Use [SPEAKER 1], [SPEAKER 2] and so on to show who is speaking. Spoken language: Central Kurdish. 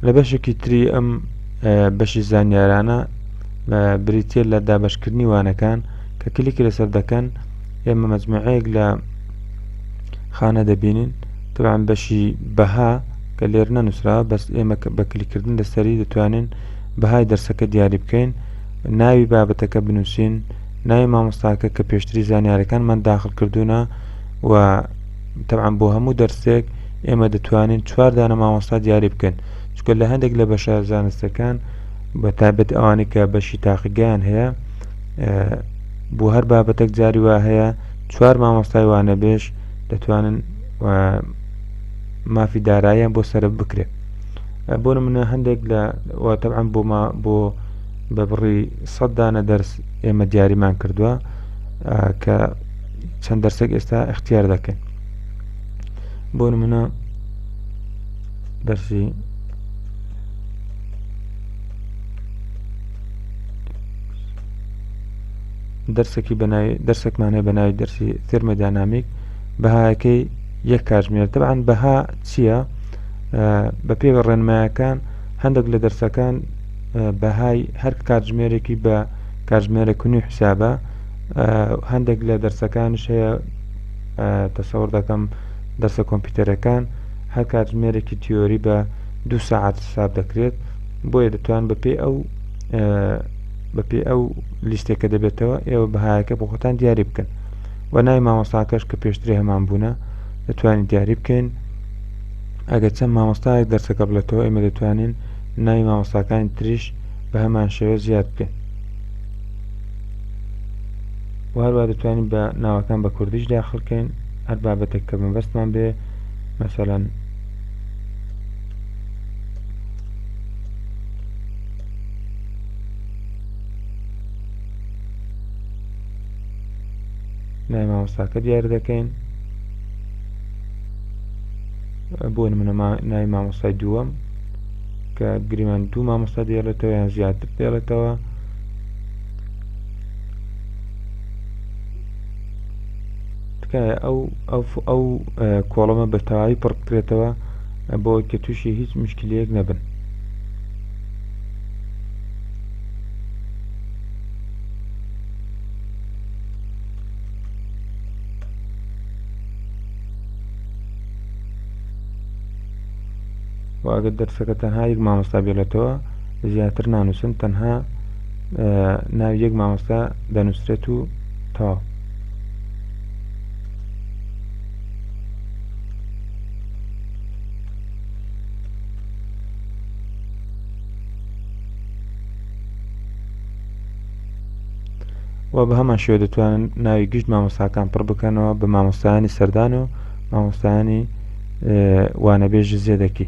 [SPEAKER 1] لە بەشێکی تری ئەم بەشی زانیارانە بریتیە لە دابەشکردنی وانەکان کە کلیکی لەسەر دەکەن ئێمە مەجموعەیەک لە خانە دەبینین تەعاان بەشی بەها کە لێر نەنووسرا بەس ئێمە بە کلیکردن لەسەری دەتوانین بەهای دەرسەکە دیاری بکەین ناوی بابەتەکە بنووسین ناوی مامۆستاکە کە پێشتری زانیارەکانمان داخل کردوونە و تەبعەن بۆ هەموو دەرسێک ئێمە دەتوانین چوار دانە مامۆستا دیاری بکەن چکە لە هەندێک لە بەشە زانستەکان بە تابەت ئەوانی کە بەشی تاقیگەیان هەیە بۆ هەر بابەتەک جاری وا هەیە چوار مامۆستای وانە بێش دەتوانن مافی داراییان بۆ سرە بکرێت بۆ منە هەندێک لە واتەعام بۆ ما بۆ بە بڕی سەددانە دەرس ئێمە دیاریمان کردووە کە چەند دەرسێک ئێستا اختیار دەکەین بۆ نمونە دەرسی دەرسێکی بەنای دەرسێکمانێ بەناوی دەرسی ترمەدانامیک بەهایەکەی یەک کاژمێر دەبان بەها چییە بە پێوە ڕێنمایەکان هەندێک لە دەرسەکان بەهای هەر کاتژمێرێکی بە کاتژمێرە کونی حسابە هەندێک لە دەرسەکانش هەیە تەسەور دەکەم دەرسە کۆمپیوتەرەکان هەر کاتژمێرێکی تیۆری بە دو ساعت حساب دەکرێت بۆیە دەتوان بەپێ ئەو بەپێ ئەو لیستێکە دەبێتەوە ئێوە بەهایەکە بۆ خۆتان دیاری بکەن و نای مامۆستاکەش کە پێشتری هەمان بوونە دەتوانین دیاری بکەین ئەگەر چەند مامۆستایەک دەرسەکە بڵێتەوە ئێمە دەتوانین ناوی مامۆستاکانی تریش بە هەمان شێوە زیاد بکەین و هەروە دەتوانین بە ناوەکان بە کوردیش داخلکەین هەر بابەتێک کە مەبەستمان بێ مەسەەن نای مامۆستاکە دیار دەکەین بۆ منە نای مامۆستای دووەم کە گریمان دوو مامۆستا دێڵێتەوە یان زیاتر دێڵێتەوە تکایە ئەو ئەو کۆڵمە بەتەواوی پڕکرێتەوە بۆ کە تووشی هیچ مشکلەیەک نەبن واگە دەرسەکە تەنها یەک مامۆستا بێلێتەوە زیاتر نانووسن تەنها ناو یەک مامۆستا دەنووسرێت و تا و بە هەمان شێوە دەتوانن ناوی گشت مامۆستاکان پڕ بکەنەوە بە مامۆستایانی سەردان و مامۆستایانی وانەبێژ زێدەکی